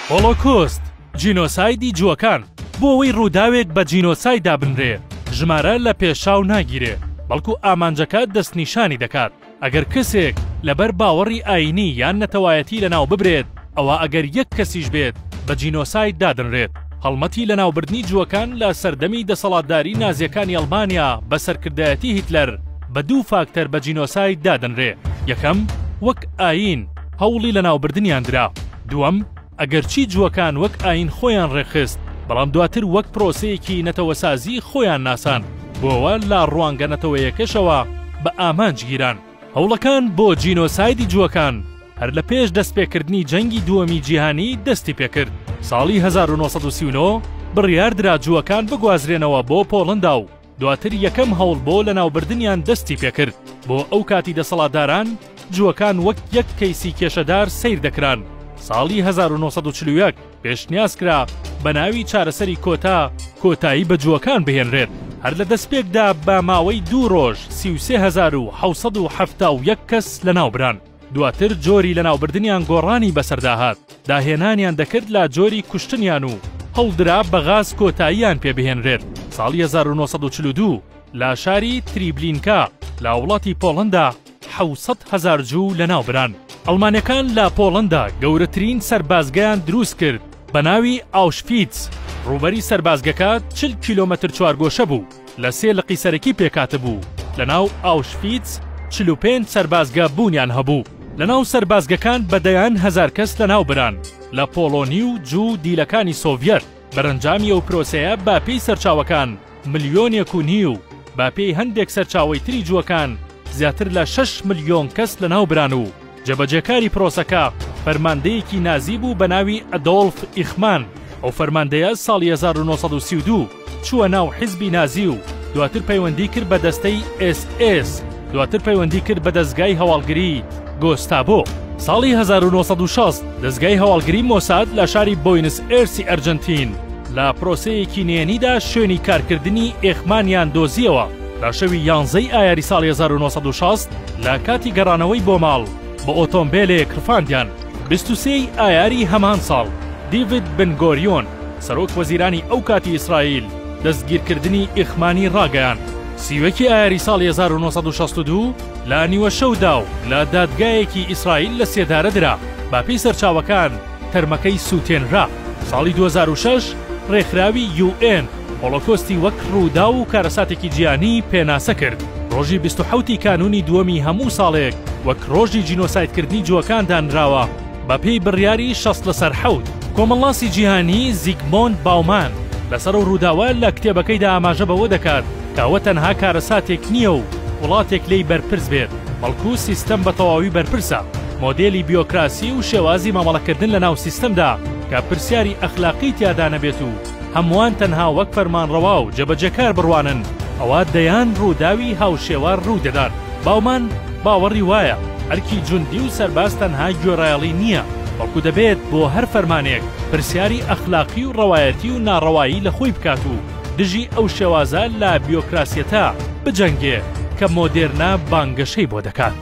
هۆڵۆکۆست، جینۆسایدی جووەکان، بۆ ئەوەی ڕووداوێک بە جینۆساید دابنرێ، ژمارە لە پێشچاو ناگیرێ، بەڵکو ئامانجەکە دەستنیشانی دەکات. ئەگەر کەسێک لەبەر باوەڕی ئایینی یان نەتەوایەتی لەناو ببرێت، ئەوا ئەگەر یەک کەسیش بێت بە جینۆساید دادەنرێت. هەڵمەتی لەناوبردنی جووەکان لە سەردەمی دەسەڵاتداری نازیەکانی ئەڵمانیا بە سەرکردایەتی هیتلەر بە دوو فاکتەر بە جینۆساید دادەنرێ یەکەم وەک ئایین هەوڵی لەناوبردنیان درا دووەم ئەگەرچی جووەکان وەک ئایین خۆیان ڕێکخست بەڵام دواتر وەک پرۆسەیەکی نەتەوەسازی خۆیان ناسان بۆوە لە ڕوانگە نەتەوەیەکەشەوە بە ئامانج گیران. هەوڵەکان بۆ جینۆسایدی جووەکان هەر لە پێش دەستپێکردنی جەنگی دووەمی جیهانی دەستی پێ کرد. ساڵی هەزار و نۆ سەد و سی و نۆ بڕیار درا جووەکان بگوازرێنەوە بۆ پۆڵەندا و دواتر یەکەم هەوڵ بۆ لەناوبردنیان دەستی پێ کرد. بۆ ئەو کاتی دەسەڵاتداران جووەکان وەک یەک کەیسی کێشەدار سەیر دەکران. ساڵی هەزار و نۆ سەد و چل و یەک. پێشنیاز کرا بە ناوی چارەسەری کۆتا کۆتایی بە جووەکان بهێنرێت، هەر لە دەستپێکدا بە ماوەی دوو ڕۆژ سی و سێ هەزار و حەوت سەد و حەفتا و یەک کەس لەناوبران، دواتر جۆری لەناوبردنیان گۆڕانی بەسەردا هات، داهێنانیان دەکرد لە جۆری کوشتنیان و هەوڵدرا بە غاز کۆتاییان پێ بهێنرێت، ساڵی هەزار و نۆ سەد و چل و دوو لە شاری تریبلینکا لە وڵاتی پۆڵەندا، حەوت سەد هەزار جوو لەناو بران. ئەڵمانەکان لە پۆڵەندا گەورەترین سەربازگەیان دروست کرد بە ناوی ئاوشفیتس، ڕووبەری سەربازگەکە چل کیلۆمەتر چوارگۆشە بوو، لە سێ لقی سەرەکی پێکهاتبوو، لەناو ئاوشفیتس چل و پێنج سەربازگە بوونیان هەبوو. لەناو سەربازگەکان بە دەیان هەزار کەس لەناو بران لە پۆڵۆنی و جوو و دیلەکانی سۆڤیەت. بەرەنجامی ئەو پرۆسەیە بە پێی سەرچاوەکان ملیۆنێک و نیو، بە پێی هەندێک سەرچاوەی تری جووەکان زیاتر لە شەش ملیۆن کەس لەناوبران و جێبەجێکاری پرۆسەکە فەرماندەیەکی نازی بوو بە ناوی ئەدۆلف ئیخمان، ئەو فەرماندەیە ساڵی هەزار و نۆ سەد و سی و دوو چووە ناو حیزبی نازی و دواتر پەیوەندی کرد بە دەستەی SS دواتر پەیوەندی کرد بە دەزگای هەواڵگری، گۆستابۆ، ساڵی هەزار و نۆ سەد و شەست دەزگای هەواڵگری مۆساد لە شاری بۆینس ئێرسی ئەرجەنتین لە پرۆسەیەکی نێنیدا شوێنی کارکردنی ئێخمانیان دۆزییەوە لە شەوی یانزەی ئایاری ساڵی هەزار و نۆ سەد و شەست لە کاتی گەڕانەوەی بۆ ماڵ بە ئۆتۆمبێلێک ڕفاندیان بیست و سێ ی ئایاری هەمان ساڵ دیڤید بن گۆریۆن سەرۆک وەزیرانی ئەو کاتی ئیسرائیل دەستگیرکردنی ئێخمانی ڕاگەیاند سیوەکی ئایاری ساڵی هەزار و نۆ سەد و شەست و دوو لە نیوەشەودا و لە دادگایەکی ئیسرائیل لەسێدارە درا، بەپێی سەرچاوەکان تەرمەکەی سووتێنرا. ساڵی دوو هەزار و شەش ڕێکخراوی یوئێن هۆڵۆکۆستی وەک ڕووداو و کارەساتێکی جیهانی پێناسە کرد، ڕۆژی بیست و حەوت ی کانوونی دووەمی هەموو ساڵێک وەک ڕۆژی جینۆسایدکردنی جووەکان دانراوە، بەپێی بڕیاری شەست لەسەر حەوت، کۆمەڵناسی جیهانی زیگمۆند باومان لەسەر ئەو ڕووداوە لە کتێبەکەیدا ئاماژە بەوە دەکات کە ئەوە تەنها کارەساتێک نییە و وڵاتێک لێی بەرپرس بێت، بەڵکو سیستەم بە تەواوی بەرپرسە، مۆدێلی بیۆکراسی و شێوازی مامەڵەکردن لەناو سیستەمدا کە پرسیاری ئەخلاقی تیادا نەبێت و هەمووان تەنها وەک فەرمانڕەوا و جێبەجێکار بڕوانن، ئەوا دەیان ڕووداوی هاوشێوە ڕوو دەدات. باومان باوەڕی وایە ئەرکی جوندی و سەرباز تەنها گوێڕایەڵی نییە، بەڵکو دەبێت بۆ هەر فەرمانێک پرسیاری ئەخلاقی و ڕەوایەتی و ناڕەوایی لە خۆی بکات و دژی ئەو شێوازە لە بیۆکراسیەتە بجەنگێ کە مۆدێرنە بانگەشەی بۆ دەکات.